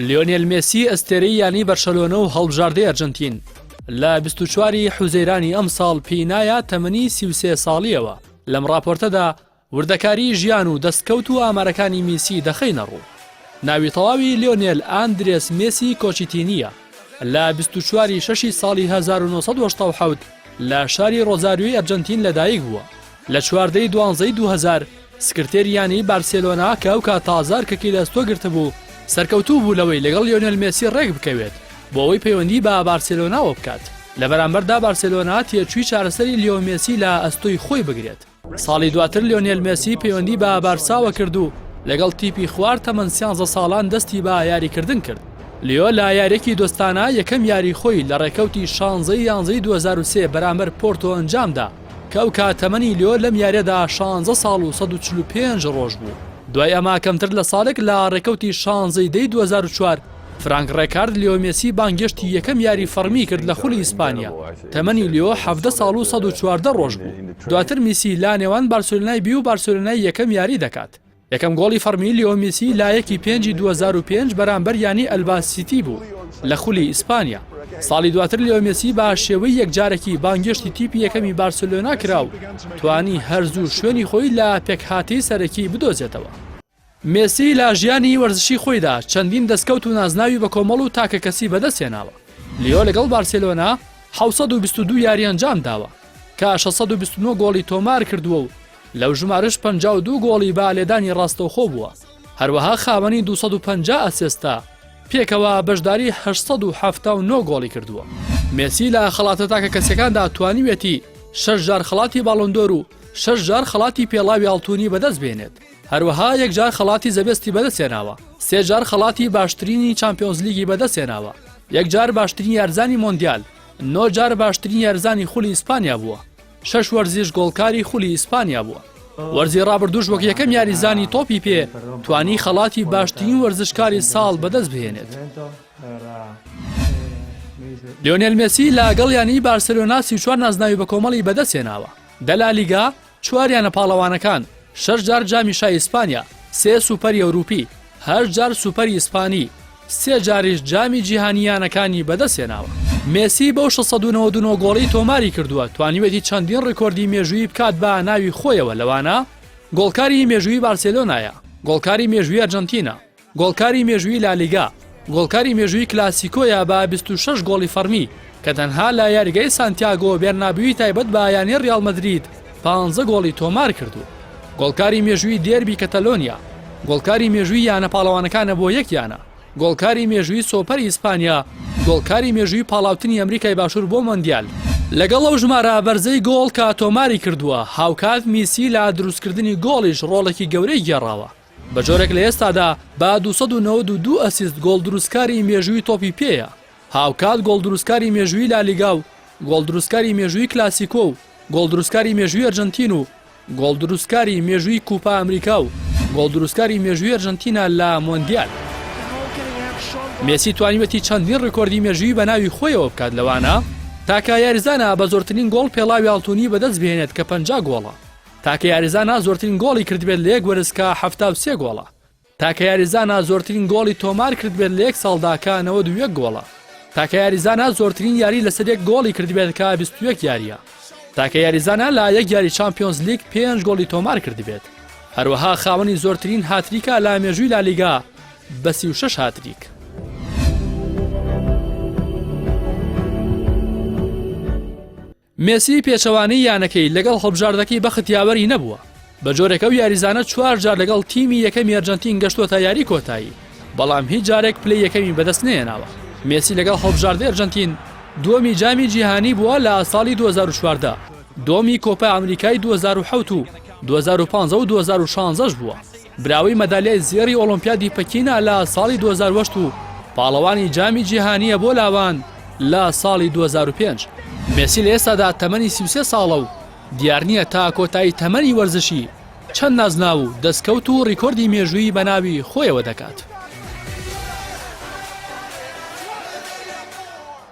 لیۆنێل مێسی ئەستێرەی یانەی بەرشەلۆنە و هەڵبژاردەی ئەرجەنتین، لە بیست و چوار ی حوزەیرانی ئەمساڵ پێی نایە تەمەنی سی و سێ ساڵییەوە، لەم ڕاپۆرتەدا وردەکاریی ژیان و دەستکەوت و ئامارەکانی میسی دەخەینە ڕوو. ناوی تەواوی لیۆنێل ئاندرێس مێسی کۆچیتینییە، لە بیست و چوار ی شەش ی ساڵی هەزار و نۆ سەد و هەشتا و حەوت لە شاری ڕۆزاریۆی ئەرجەنتین لەدایکبووە، لە چواردە ی دوانزە ی دوو هەزار سکرتێری یانەی بارسێلۆنا کە ئەو کات تازە ئەرکەکەی لە ئەستۆ گرتبوو، سەرکەوتوو بوو لەوەی لەگەڵ لیۆنێل مێسی ڕێکبکەوێت بۆ ئەوەی پەیوەندی بە بارسێلۆناوە بکات، لە بەرامبەردا بارسێلۆنا تێچووی چارەسەری لیۆ مێسی لە ئەستۆی خۆی بگرێت. ساڵی دواتر لیۆنێل مێسی پەیوەندی بە بارساوە کرد و لەگەڵ تیپی خوار تەمەن سیانزە ساڵان دەستی بە یاریکردن کرد. لیۆ لە یارییەکی دۆستانە یەکەم یاری خۆی لە ڕێکەوتی شانزەی یانزەی دوو هەزار و سێ بەرامبەر پۆرتۆ ئەنجامدا، کەوکا تەمەنی لیۆ لەم یاریەدا شانزە ساڵ و سەد و چل و پێنج رۆژ بوو، دوای ئەمە کەمتر لە ساڵێک لە رێکەوتی شانزە ی دەی دوو هەزار و چوار فرانک رێکارد لیۆ مێسی بانگێشتی یەکەم یاری فەڕمی کرد لە خولی ئیسپانیا تەمەنی لیۆ حەڤدە ساڵ و سەد و چواردە رۆژ بوو، دواتر میسی لانێوان بارسێلۆنای بی و بارسێلۆنای یەکەم یاری دەکات. یەکەم گۆڵی فەڕمی لیۆ میسی لایەکی پێنجی دوو هەزار و پێنج بەرامبەر یانەی ئەلبا سیتی بوو لە خولی ئیسپانیا، ساڵی دواتر لیۆ میسی بە شێوەی یەکجارەکی بانگێشتی تیپی یەکەمی بارسێلۆنا کرا و توانی هەر زوو شوێنی خۆی لە پێکهاتەی سەرەکی بدۆزێتەوە. میسی لە ژیانی وەرزشی خۆیدا چەندین دەستکەوت و نازناوی بەکۆمەڵ و تاکەکەسی بەدەستهێناوە، لیۆ لەگەڵ بارسێلۆنا حەوت سەد و بیست و دوو یاری ئەنجامداوە، کە شەش سەد و بیست و نۆ گۆڵی تۆمارکردووە و لەو ژمارەش پەنجا و دوو گۆڵی بە لێدانی ڕاستەوخۆ بووە، هەروەها خاوەنی دوو سەد و پەنجا ئەسێستە، پێکەوە بەشداری هەشت سەد و حەفتا و نۆ گۆڵی کردووە. مێسی لە خەڵاتە تاکەکەسییەکاندا توانیویەتی شەش جار خەڵاتی باڵۆن دۆر و شەش جار خەڵاتی پێڵاوی ئاڵتوونی بەدەست بێنێت، هەروەها یەک جار خەڵاتی زەبێستی بەدەستهێناوە، سێ جار خەڵاتی باشترینی چامپیۆنزلیگی بەدەستهێناوە، یەک جار باشترین یارزانی مۆندیال، نۆ جار باشترین یارزانی خولی ئیسپانیا بووە. شەش وەرزیش گۆڵکاری خولی ئیسپانیا بووە. وەرزی ڕابردووش وەک یەکەم یاریزانی تۆپی پێ توانی خەڵاتی باشترین وەرزشکاری ساڵ بەدەست بهێنێت. لیۆنێل مێسی لەگەڵ یانی بارسلۆنا سی چوار نازناوی بە کۆمەڵی بەدەستێناوە دە لە لیگا چواریانە پاڵەوانەکان شەش جار جامی شای ئیسپانیا سێ سوپەری ئەوروپی هەر جار سوپەری ئیسپانی سێ جاریش جامی جیهانی یانەکانی بەدەستهێناوە. مێسی بەو شەش سەد و نەوەد و نۆ گۆڵەی تۆماری کردووە، توانیویەتی چەندین ڕیکۆردی مێژوویی بکات بە ناوی خۆیەوە لەوانە، گۆڵکاری مێژوویی بارسێلۆنایە، گۆڵکاری مێژوویی ئەرجەنتینە، گۆڵکاری مێژوویی لالیگا، گۆڵکاری مێژوویی کلاسیکۆیە بە بیست و شەش گۆڵی فەڕمی، کە تەنها لە یاریگای سانتیاگۆ بێرنابیوی تایبەت بە یانەی ریال مەدرید پانزە گۆڵی تۆمارکردووە. گۆڵکاری مێژووی دێربی کەتەلۆنیا، گۆڵکاری مێژووی یانە پاڵەوانەکانە بۆ یەک یانە، گۆڵکاری مێژووی سۆپەری ئیسپانیا، گۆڵکاری مێژووی پاڵاوتنی ئەمریکای باشوور بۆ مۆندیال. لەگەڵ ئەو ژمارە بەرزەی گۆڵ کە تۆماریکردووە، هاوکات میسی لە دروستکردنی گۆڵیش رۆڵێکی گەورەی گێڕاوە. بە جۆرێک لە ئێستادا با دوو سەد و نەوەد و دوو ئەسیست گۆڵدروستکاری مێژووی تۆپی پێیە، هاوکات گۆڵدروستکاری مێژووی لالیگا و گۆڵدروستکاری مێژووی کلاسیکۆ و گۆڵدروستکاری مێژووی ئەرجەنتین و گۆڵدروستکاری مێژووی کوپا ئەمریکا و گۆڵدروستکاری مێژووی ئەرجەنتینە لە مۆندیال. مێسی توانیویەتی چەندین رێکۆردی مێژووی بەناوی خۆیەوە بکات لەوانە. تاکە یاریزانە بە زۆرترین گۆڵ پێڵاوی ئاڵتونی بەدەستبهێنێت کە پەنجا گۆڵە، تاکە یاریزانا زۆرترین گۆڵی کردبێت لە یەک وەرز کە حەفتا و سێ گۆڵە. تاکە یاریزانا زۆرترین گۆڵی تۆمار کردبێت لە یەک ساڵدا کە نەوەد و یەک گۆڵە. تاکە یاریزانا زۆرترین یاری لەسەر یەک گۆڵی کردبێت کە بیست و یەک یارییە. تاکە یاریزانا لە یەک یاری چامپیۆنزلیگ پێنج گۆڵی تۆمار کردبێت. هەروەها خاوەنی زۆرترین هاتریکە لە مێژووی لالیگا بە سی و شەش هاتریک. مێسی پێچەوانەی یانەکەی لەگەڵ هەڵبژاردەکەی بەخت یاوەری نەبووە، بەجۆرێک ئەو یاریزانە چوار جار لەگەڵ تیمی یەکەمی ئەرجەنتین گەشتووەتە یاری کۆتایی، بەڵام هیچ جارێک پلەی یەکەمی بەدەست نەهێناوە. مێسی لەگەڵ هەڵبژاردەی ئەرجەنتین دووەمی جامی جیهانی بووە لە ساڵی دوو هەزار و چواردە، دووەمی کۆپا ئەمریکای دوو هەزار و حەوت و دوو هەزار و پازدە و دوو هەزار و شازدە ش بووە. براوەی مەدالیای زێڕی ئۆڵۆمپیادی پەکینە لە ساڵی دوو هەزار و هەشت و پاڵەوانی جامی جیهانییە بۆ لاوان لە ساڵی دوو هەزار و پێنج. مێسی لە ئێستادا تەمەنی سی و سێ ساڵە و دیار نییە تا کۆتایی تەمەنی وەرزشی چەند نازناو و دەستکەوت و ریکۆردی مێژوویی بە ناوی خۆیەوە دەکات.